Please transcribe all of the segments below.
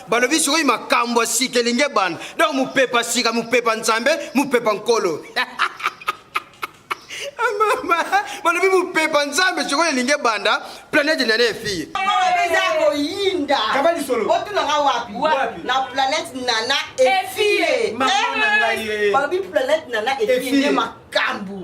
balobi sikoyo makambo ya sika elingi ebanda donc mopepa sika mopepa nzambe mopepa nkolo mama balobi mopepa nzambe sikoyo elingi ebanda planète nene fille eza koyinda otunanga wapi na planète nana efie balobi planète nana efie nde makambu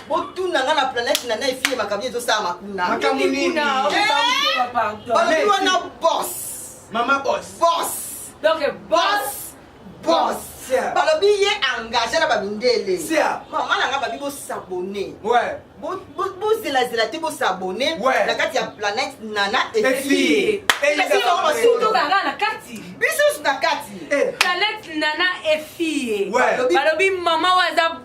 botunanga na planète nana efie makambo ezosalama kuna balobi wana bos mama bos bos donc bos boss balobi ye engage na bamindele mama na nga babi bosabone bozelazela te bosabone na kati ya planète nana efie biso na kati eh. planète nana efie balobi mama oyo aza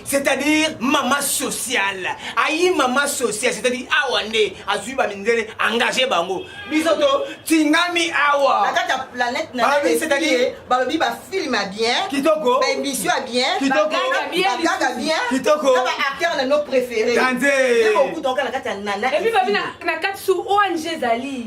c'est-à-dire mama sociale ayi mama sociale c'est-à-dire awa nde azwi bamindele engage bango biso to tingami awa na kati ya planète na Balobi, c'est-à-dire- ye balobi bafilme ya bien Kitoko. baémission ya bien Kitoko. bagaga bien bagaga bien Kitoko. na baacteur na no préféré Danze. nde bokuta oka na kati ya nana epuis babi na kati su ong ezali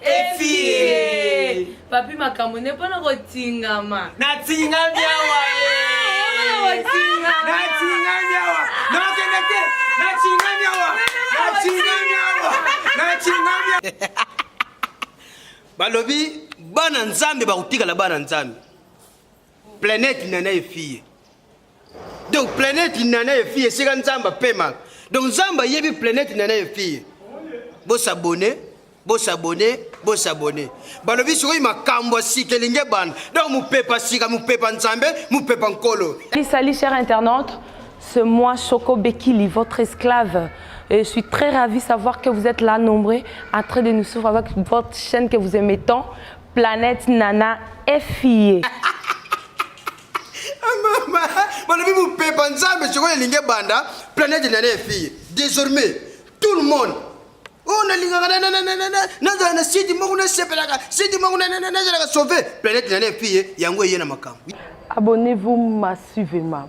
efie papi makambo ne mpona kotingama natingami awa natingami awa nakende te natingami awa natingami awa natingami awa balobi bana nzambe bakotikala bana nzambe Planète Nana et fille. Donc planète Nana et fille c'est quand Zamba pema. Donc Zamba yebi planète Nana et fille. Bo s'abonner, bo s'abonner, bo s'abonner. Balobi soki makambo sikelinge bana. Donc mupepa sika, mupepa Nzambe, mupepa nkolo. Salut, salut cher internaute. C'est moi Choco Bekili, votre esclave. Et je suis très ravie de savoir que vous êtes là, nombreux, en train de nous suivre avec votre chaîne que vous aimez tant. Planète Nana FIE. Mama, balobi mopepa nzambe sikoyo elingi ebanda planète Nana FIE. Désormais, tout le monde oyo oh, nalingaka nazala na sidi moko nasepelaka sidi moko nazalaka sauve planète Nana FIE yango eye na makambo. Abonnez-vous massivement.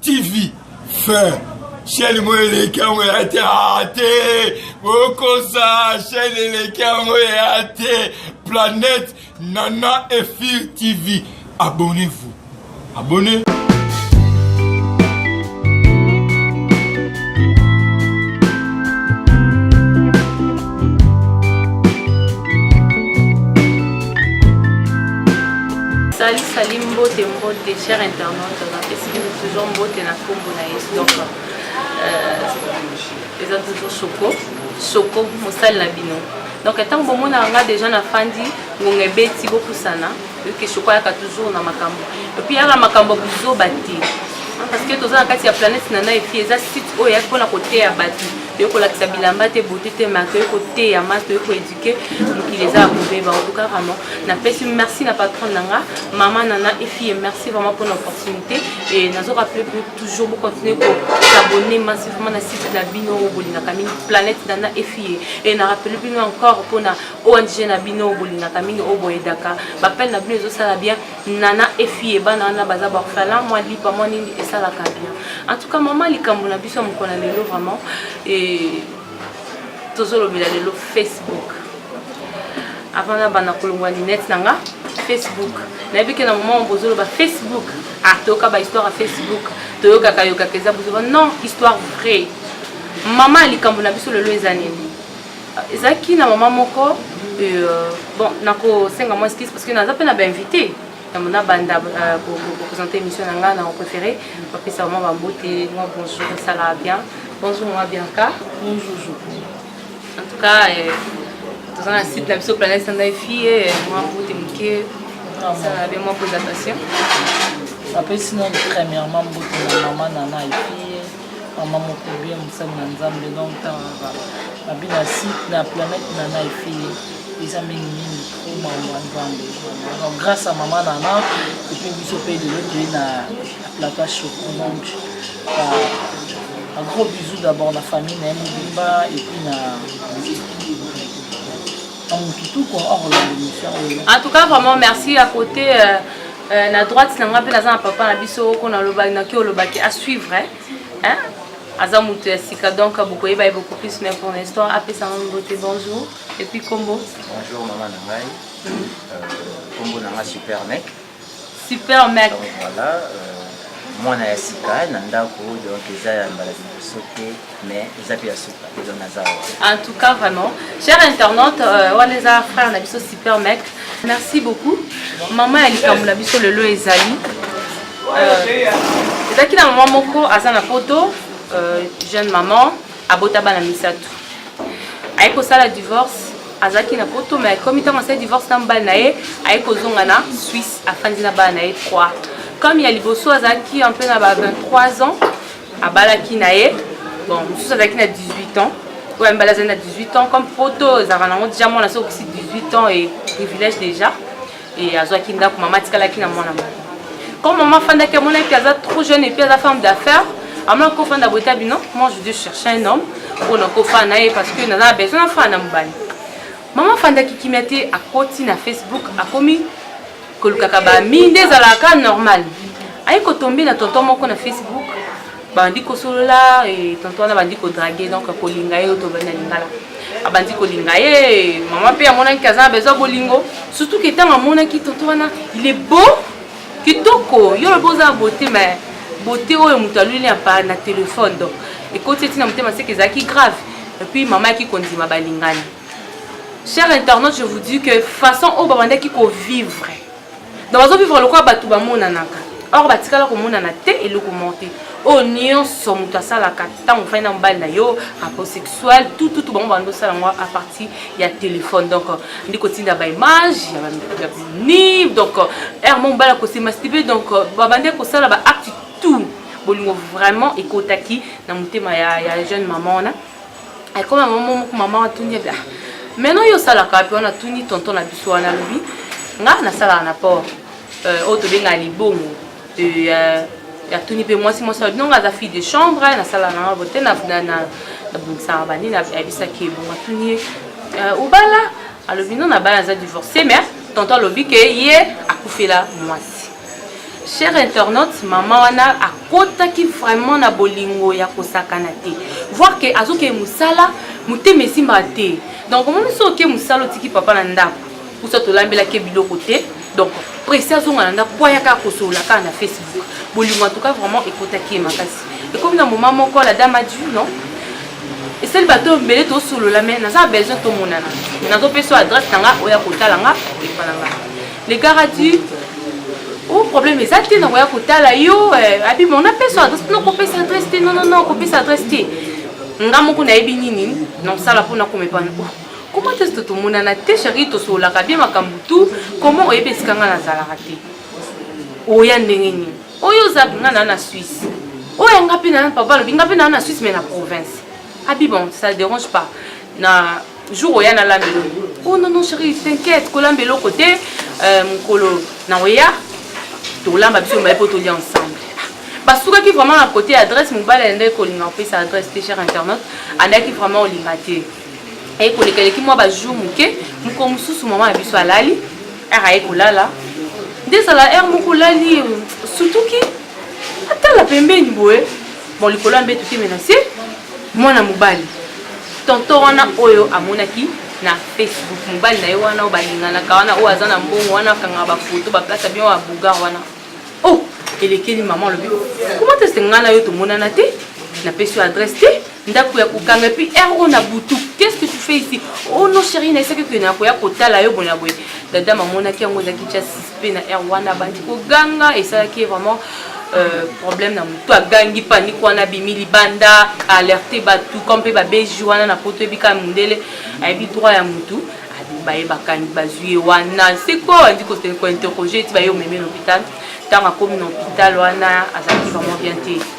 TV fin sheni mo eleki yango ya te ate okosa sheni eleki yango ya te planète nana efir tv abonnez-vous abonnez Salut, salut, mbote, mbote, cher internaute. napesi bino toujours mbote na nkombo na yesu donc euh, eza toujours soko soko mosali na bino donc ntango bomonaka nga déjà nafandi ngonga ebeti bopusana oyoki soko ayaka toujours na makambo epuis yaka makambo buzoba te parce que toza na kati ya planète na na epuis eza site oyo eyaki mpona koteya bato toyei kolakisa bilamba te bote te ma toyei koteya ma toyei que mokili eza ya kobeba en tout cas vraiment napesi merci na patronne na nga mama nana efille merci vraiment mpo na opportunité et nazo rappele po toujours bocontinue kosabonne massivement na site na bino oyo bolingaka mingi planète nana efille et na rappele bino encore mpo na ong na bino oyo bolingaka mingi oyo boyedaka bapele na bino ezosala bien nana efille bana wana baza baorphelin mwa lipa mwa nini esalaka bien en tout cas mama likambo na biso ya mokona lelo vraiment et tozolobela lelo facebook avant nabanda kolongwa linete na nga facebook nayebi ke na moment oyo bozoloba facebook ah toyoka bahistoire ya facebook toyokaka yokaka eza bozoba non histoire vraie mama ya likambo na biso lelo eza nini ezalaki na mama moko euh, bon nakosenga mwa skise parce que naza mpe na bainvité nabanda kopresente émission na ngai na préféré bapesa mwa bambote mwa bonjour esalaka bien bonjour mwa bianca bonjour en tout cas eh, toza na site na biso planète sandai fille eh, mwa mbote moke esalaka bien mwa présentation bapesi nani premièrement mbote na mama nana efi mama moko bien mosali na nzambe longtemps babi na site na planète na na efili eza mingi mingi po makambo ya nzambe donc grâce ya mama nana epe biso mpe lelo toye na plateau choco donc un gros bisou d'abord na famille na ye mobimba epuis na en tout cas vraiment merci à côté euh, euh, na droite na nga mpe naza na papa na biso oko nalobaki naki olobaki à suivre hein? aza moto ya sika donc bokoyeba ye beaucoup plus mais pour l'instant apesa ngo mbote bonjour et puis kombo bonjour mama na ngai kombo na nga super mec Super mec. Voilà, euh, mwana ya sika na ndako donc eza ya mbala liboso te mais eza mpe ya suka eza na zawa en tout cas vraiment cher internaute euh, wana eza frère na biso super mec merci beaucoup mama ya likambo na biso lelo ezali euh, ezalaki na mama moko aza na poto euh, jeune maman Abota bana misato. Aye kosala divorce azalaki na poto mais akomi ntango asali divorce na mobali na ye aye kozonga na swisse afandi na bana na ye 3 comme ya liboso azalaki mpe na ba 23 ans abalaki na ye bon mosusu azalaki na 18 ans oyo ya mibali azali na 18 ans comme poto ezalaka nango deja mwana soki okisi 18 ans e privilège déjà Et azwaki ndako mama atikalaki na mwana moko. Comme mama afandaki amonaki que aza trop jeune et puis aza femme d'affaires, amona kofanda boye ta bino, moi je dis chercher un homme mpo na kofanda na ye parce que naza na besoin nafanda na mobali. Mama afandaki kimia te, akoti na Facebook, akomi kolukaka ba mi nde ezalaka normal. Aye kotombe na tonton moko na Facebook bandi kosolola eh, tonto wana bandi kodrage donc kolinga ye oto bandi na lingala abandi kolinga ye eh, mama mpe amonaki aza na bezwa bolingo surtout ke ntango amonaki tonto wana il est beau kitoko yo lobi oza na beauté mais beauté oyo moto aluli ya pa na telefone donc ekoti eti na motema seke ezalaki grave epuis mama yaki kondima balingani cher internaute je vous dis que façon oyo babandaki kovivre donc bazo vivre lokola bato bamonanaka or batikala komonana te eloko moko te oyo nyonso moto asalaka ntango ofandi na mobali na yo rapport sexuel tututu bango bando osala yango a partir ya telefone donc ndi kotinda baimage ya bini donc heure mo mobali akosemasibe donc babandi kosala baacte tout bolingo vraiment ekotaki na motema ya, ya jeune mama wana ekoma mama moko mama watuni ebe meno oyo osalaka wapi wana tuni tonton na biso wana alobi nga nasalaka na port euh, oyo tobengaka libongo euh, ya tuni mpe mwasi mwasi alobi nonga aza fille de chambre nasala nanga bote nabongisaka banini ayebisaki ebongo atuni ye euh, obala alobi no nabala aza divorce mais tonton alobi ke ye akufela mwasi Cher internaute, maman wana akotaki vraiment na bolingo ya kosakana te. Voir que azoke musala, motema esimba te. Donc omoni soki oke musala otiki papa na ndako, kusa tolambelaki ye biloko te. Donc presse azonga na ndako po ayaka kosolola kaka na Facebook. Bolingo en tout cas vraiment ekotaki ye makasi. Ekomi na moment moko la dame a dit non, esali bato mbele tosolola me naza besoin tomonana nazopesa adresse na nga oya kotala nga epa na nga Le gars a dit Oh, problème eza te nakoya kotala yo eh, abi bon napesa adresse no kopesa adresse te nonono kopesa adresse te nga moko nayebi nini nasala mpo nakoma epana oh, koma te soto tomonana te sheri tosololaka bie makambo tu koma oyebi esika nga nazalaka te oya ndenge nini oyo oza nga naa na suisse oyo nga mpe naa papa alobi nga mpe naa na suisse mai na province abi bon ça dérange pas na jour oya nalamba eloko oh non non chérie t'inquiète kolamba eloko te euh, mokolo na oya tolamba biso mbaye mpo tolia ensemble basukaki vraiment na côté ya adresse mobali alendaki kolinga kopesa adresse te cher internaute andaki vraiment olinga te aye koleka eleki mwa bajour moke mokolo mosusu mama na biso alali r aye kolala nde ezala r moko olali sutuki atala pembeni boye bon likolo ya mbetu te me na se mwana mobali tonto wana oyo amonaki na facebook mobali na ye wana oyo balinganaka wana oyo aza na mbongo wana akangaka bafoto baplasa bino ya bougar wana o oh, elekeli mama alobi komata se ngai na yo tomonana te napesi yo adresse te ndako ya kokanga epuis heure oyo na butu qu'est ce que tu fais ici oh non chérie na esaki kende nakoya kotala yo bonya boye dada mamonaki yango ezalaki tya sispe na heure wana abandi koganga esalaki ye vraiment Euh, problème na motu agangi panike wana abimi libanda alerte bato comme mpe babeji wana na poto ebika mondele ayebi droit ya motu baye bakangi bazwi ye wana siko andi kointerroge ti baye omemi na hôpital ntango akomi na hôpital wana azalaki vraiment bien te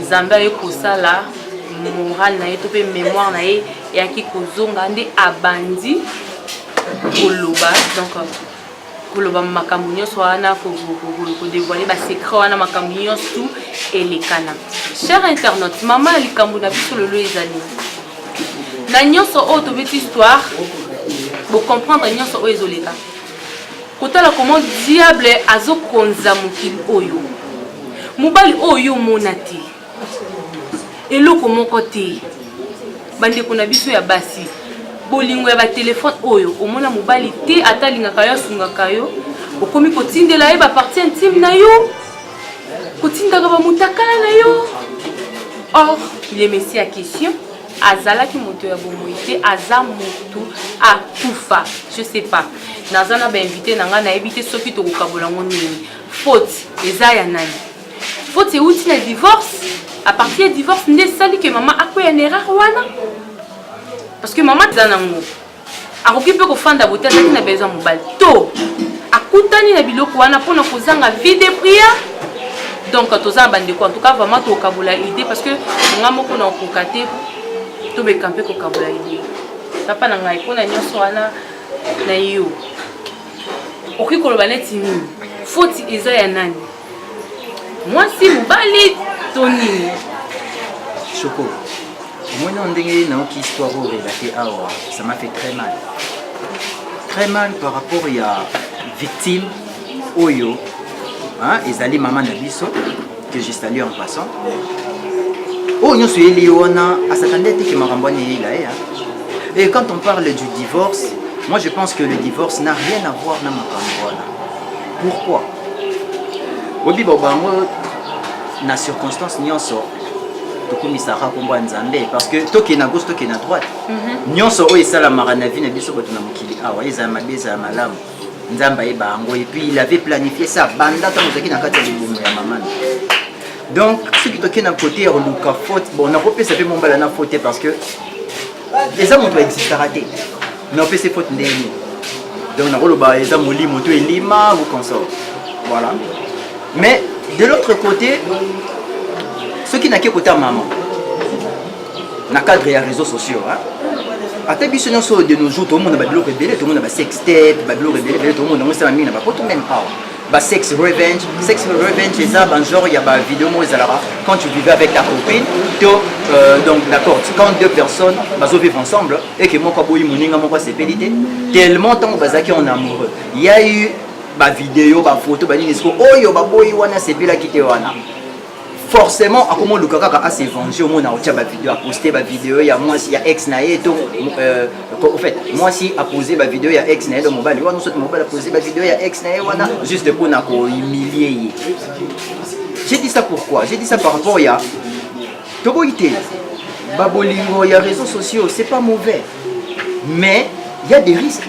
nzambe aye kosala morale na ye to mpe mémoire na ye eyaki kozonga nde abandi koloba donc koloba makambo nyonso wana kodevoile basecret wana makambo nyonso tout elekana cher internaute mama ya likambo na biso lelo ezali na nyonso oyo tobeti histoire bocomprendre nyonso oyo ezoleka kotala comment diable azokonza mokili oyo mobali oyo yo omona te eloko moko te bandeko na biso ya basi bolingo ya batelefone oyo omona mobali te ata alingaka yo asungaka yo okomi kotindela ye baparti intime na yo kotindaka bamotakala na yo or le messi ya question azalaki moto ya bomoi te aza moto akufa je sais pas naza na bainvite na ngai nayebi te soki tokokabola yango nini faute eza ya nani faute euti na divorce à partir ya divorce nde esali ke mama akweya na erreur wana parce que mama eza nango akoki mpe kofanda bote azalaki na besoin mobali to akutani na biloko wana mpona kozanga vie de prière donc toza na bandeko en tout cas vraiment tokokabola idée parce que nga moko na okoka te tobeka mpe kokabola idée papa na ngai mpona nyonso wana na yo okoki koloba neti nini foti eza ya nani mwasi mobali to nini shoko omoni oyo ndenge nayoki histoire oyo relate awa ça m'a fait très mal très mal par rapport ya victime oyo hein, ezali mama na biso que je salue en passant oyo nyonso eyeli ye wana asatande te ke makambo wana eyela ye et quand on parle du divorce moi je pense que le divorce n'a rien à voir na makambo wana pourquoi Oyebi ba bango na circonstance nyonso tokumisaka nkombo ya nzambe parce que tokee na gauche tokee na droite mhm. nyonso oyo esalamaka na vie na biso bato na mokili awa ezala mabe ezala malamu nzambe ayeba yango epuis il avait planifie ça banda ntango ozalaki na kati ya libumu ya mamana donc soki tokei na kote ya koluka faute bon nakopesa mpe mombala na faute te parce que eza moto aexistaka te mais opesi faute ndenge nini donc nakoloba eza molimo to elima ou consort voilà mais de l'autre côté soki nake kota mama na cadre ya réseau sociaux hein? ata biso nyonso de nos jours tomona babiloko ebele tomona basextape babiloko ebele ebele tomona yango esala mingi na bapoto meme awa ba sex revenge sex revenge eza ba genre ya ba vidéo moko ezalaka quand tu vivais avec ta copine to euh, donc d'accord quand deux personnes bazo vivre ensemble et que moko aboyi moninga moko asepeli te tellement ntango bazalaki en amoureux il y a eu ba vidéo ba photo ba nini siko oyo baboyi wana asepelaki te wana forcément akomoluka kaka ase venger omona otya bavideo aposte bavideo ya mwasi ya ex na ye to euh, au fait mwasi apose bavideo ya ex na ye to mobali wana soki mobali apose bavideo ya ex na ye wana juste mpo na kohumilie ye j'ai dit ça pourquoi j'ai dit ça par rapport ya toboyi te babolingo ya réseaux sociaux c'est pas mauvais mais il y a des risques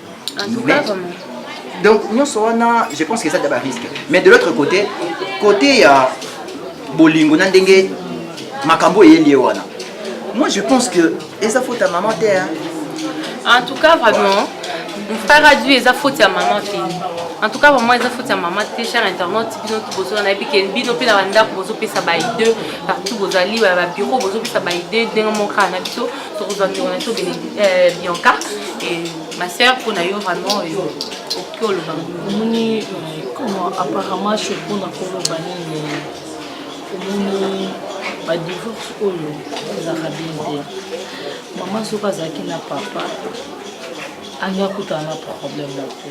donc nyonso wana je pense que eza da barisque mais de l'autre côté côté ya bolingo na ndenge makambo eyeli ye wana moi je pense que eza faute ya mama te en tout cas vraiment faradu eza faute ya mama te en tout cas vraiment eza faute ya mama te cher internaute bino tu bozona nayebi ke bino mpe na bandako bozopesa baide partout bozali babiro bozopesa baide ndenge moko kaka na biso tokozwa ntongo na to eh, bianca ma sœur mpo na yo vraiment eh, okoki oloba omoni eh, comment apparemment cho mpo na koloba nini omoni badivorce oyo ezalaka bien te mama soki azalaki na papa angi akutana na problème moko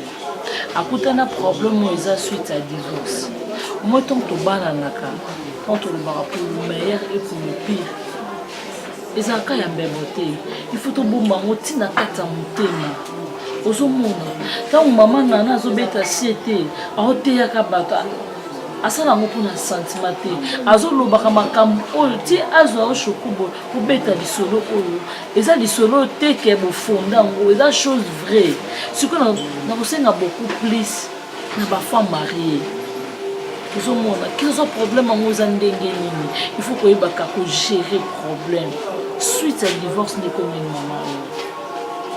akutana problème oyo eza suite ya divorce moi ntango tobananaka ntango tolobaka pour le meilleur et pour le pire ezalaka ya mbebo te il faut tobomba yango ntina kati ya motema ozomona ntango mama nana azobeta sie te aoteyaka bato asala yango mpona sentiment te azolobaka makambo oyo ti azwa yo shokubo kobeta lisolo oyo eza lisolo oyo teke bofonda yango eza chose vraie sikoyo nakosenga beaucoup plus na ba femme marie ozomona kiza problème yango eza ndenge nini il faut koyebaka kogere problème suite ya divorce nde komini mama oyo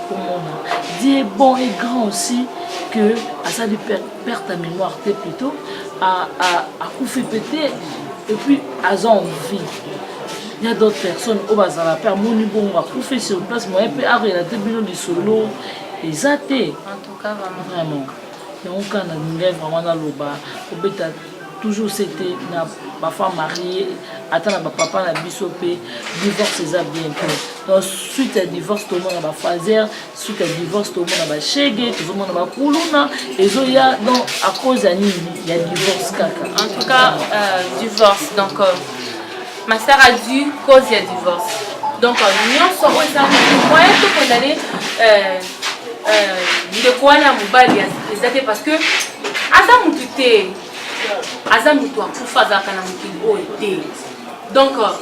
komona die bon et grand aussi que asali perte ya mémoire te plutôt akufi mpe te et puis aza en vie il y a d'autres personnes oyo bazala mpe amoni bongo akufi sur place moye mpe arelate bino lisolo eza te Kaka nga vraiment yango kaka na lingai vraiment naloba kobeta toujours c'était na ba femme mariée ata na ba papa na biso pe divorce eza bien te donc suite ya divorce tomona ba fazer suite ya divorce tomona ba shege tozomona ba kuluna ezoya donc à cause ya nini ya divorce kaka en tout cas euh, divorce donc euh... Ma sœur a dû cause ya divorce. Donc nyonso oyo eza moyen to condamner euh, euh, ndeko wana mobali eza te parce que aza mutu te aza mutu akufa azalaka na mokili oyo te donc oyo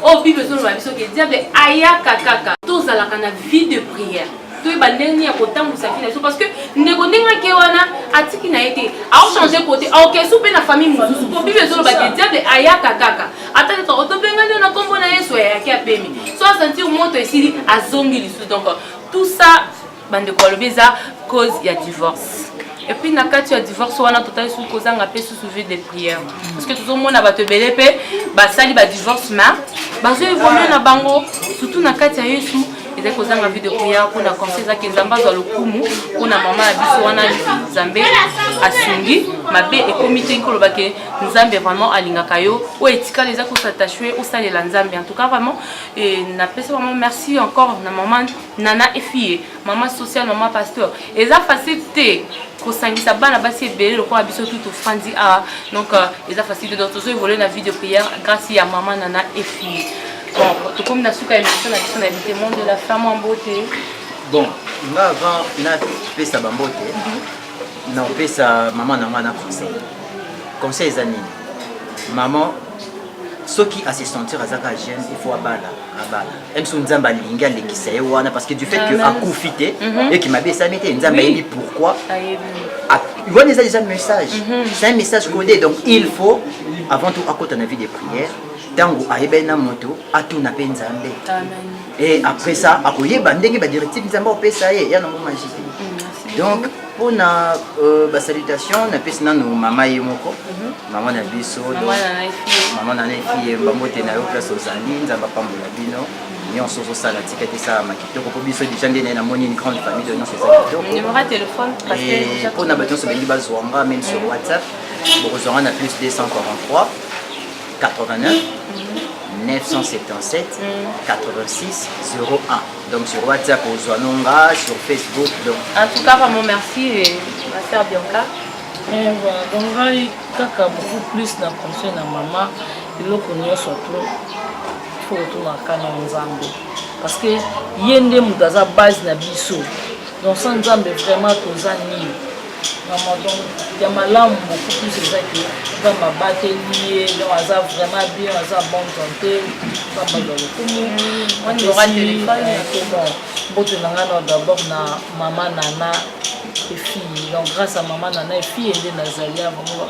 oh, bible ezoloba biso ke diable ayaka kaka tozalaka na vie de prière toyeba ndenge nini ya kotambwisa vie na biso parce que ndeko ndenge ake wana atiki na ye te aochange kote aokesu mpe na famille mosusu mpo bible ezoloba te diable ayaka kaka ata kaka otobengani yo na nkombo na yesu ayaki apemi so asentir moto esili azongi lisusu donc tout ça bandeko balobi eza cause ya divorce epuis na kati ya divorce wana totali soki kozanga mpe susu vie de prière parce que tozomona bato ebele mpe basali badivorce ma bazo evolue na bango surtout na kati ya yesu ezali kozanga vide oya mpona conseil ezaki nzambe azwa lokumu mpona mama ya biso wana nzambe asungi mabe ekomi te koloba ke nzambe vraiment alingaka yo oyo etikali eza kosatachue osalela nzambe en tout cas vraiment napesi vraiment merci encore na mama nana efie mama social mama pasteur eza facile te kosangisa bana basi ebele lokola biso tu tofandi awa donc euh, eza facile te donc tozo evolue na vie de prière grâce ya mama nana efie Bon, tokomi na suka ya emission na biso na Elite Monde de la Femme en beauté. Bon, nga avant napesa bambote nakopesa mama na ngai na conseil conseil eza nini mama soki à se sentir aza kaka jeune il faut abala abala même soki nzambe alingi alekisa ye wana parce que du fait que akufi te eki mabe esami te nzambe ayebi pourquoi wana eza déjà message c'est un message codé donc il faut avant tout akota na vie de prière ntango ayebani na moto atuna mpe nzambe e après ça akoyeba ndenge badirective nzambe akopesa ye ya nango magi te mm, donc mpona euh, basalutation napesi nano mama ye moko mhm. mama na biso mama na nefi ye bambote na yo place ozali nzambe apambola bino nyonso ozosala tika te esalama kitoko mpo biso deja nde naye namoni une grande famille de nyonso eza kitokopona bato nyonso balingi bazwa nga meme sur whatsapp bokozwa nga na plus 243 89 977 86 01 donc sur whatsapp ozwa nonga sur facebook donc en tout cas vraiment merci euh, ma sœur bianca eh, donc ngai kaka beaucoup plus na conseil na mama eloko nyonso to fo kotunaka na nzambe parce que ye nde moto aza base na biso donc sa nzambe vraiment toza nini Vraiment, donc, ya malamu beaucoup plus eza ke nzambe abateli ye donc aza vraiment bien aza bonne santé nzambe azwa lokumu mbote na ngai na d'abord na mama nana efille donc grâce à mama nana efille nde nazali ya vraiment